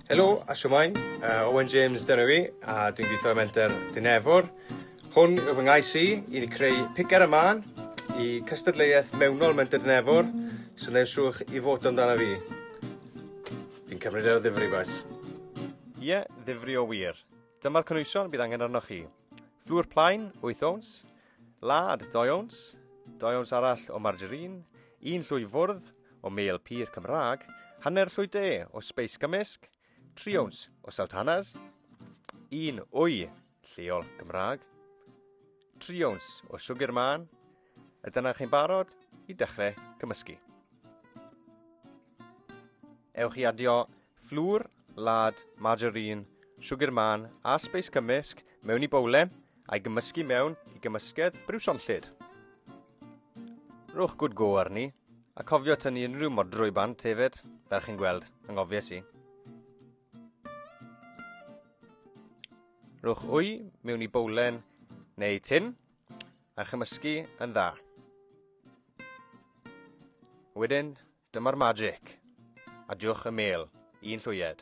Helo a siwmai, uh, Owen James dyna fi, a dwi'n gweithio ym Menter Dinefwr. Hwn yw fy ngais i, i ni creu picer y man i cystadleuaeth mewnol Menter Dinefwr, so neu'r siwch i fod amdano fi. Fi'n cymryd ar y ddifri, boes. Ie, yeah, ddifri o wir. Dyma'r cynwysion bydd angen arnoch chi. Fflwr plaen, 8 ons, Lad, doi owns, doi owns arall o margarine, un llwy fwrdd o mêl pur Cymraeg, hanner llwy de o sbeis gymysg, tri owns o sultanas, un wy lleol Gymraeg, tri owns o siwgr man, a dyna chi'n barod i dechrau cymysgu. Ewch i adio fflwr, lad, margarine, siwgr man a sbeis cymysg mewn i bowlen a'i gymysgu mewn i gymysgedd briwsionllyd. Rhowch good go arni, a cofio tynnu unrhyw modrwy bant hefyd, fel chi'n gweld, anghofies i. Rhowch wy mewn i bowlen neu tin a chymysgu yn dda. Wedyn, dyma'r magic. Adiwch y mêl, un llwyed.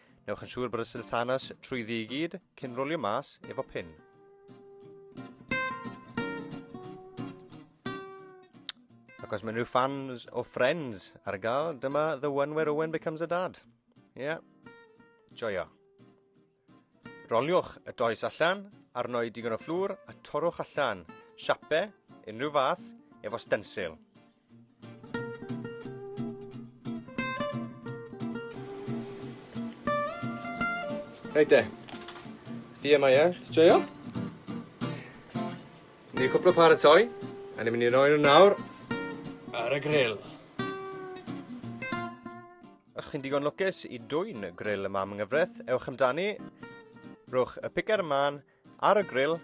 Newch yn siŵr bod y siltanas trwyddi i gyd cyn rwlio mas efo pin. Ac os mae rhyw fans o Friends ar gael, dyma The One Where Owen Becomes a Dad. Ie, yeah. joio. Roliwch y does allan, arnoi digon o fflwr a torrwch allan siape unrhyw fath efo stensil. Reit de. Fi yma ie, ti joio? Ni cwpl o paratoi, a ni'n mynd i roi nhw nawr ar y grill. Os chi'n digon lwcus i dwyn grill y mam yng nghyfraith, ewch amdani, rhowch y picer ymlaen, Ar y gril,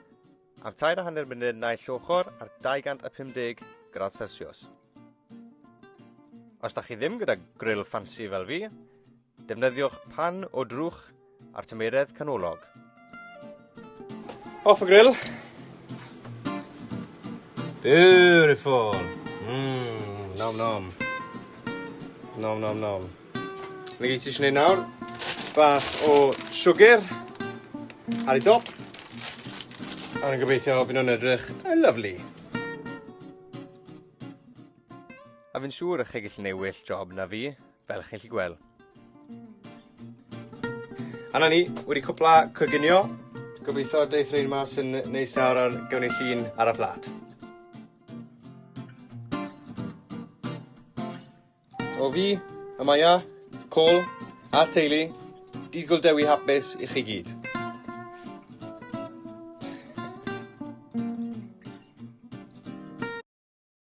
am tair a hanner munud naill ochr ar 250 gradd Celsius. Os da chi ddim gyda gril ffansi fel fi, defnyddiwch pan o drwch ar tymeiredd canolog. Off y gril. Beautiful. Mmm, nom nom. Nom nom nom. Mae gyd ti eisiau gwneud nawr, bach o siwgr ar ei dop, a rwy'n gobeithio bod nhw'n edrych yn lyfli. A fi'n siŵr y chi gallu gwneud well job na fi, fel chi'n gallu gweld. A na ni, wedi cwpla coginio. Gobeithio deith rhain mas yn neis nawr ar gawn ni llun ar y plat. O fi, Amaya, Paul, a'r teulu, Dydd Gul Dewi hapus i chi gyd.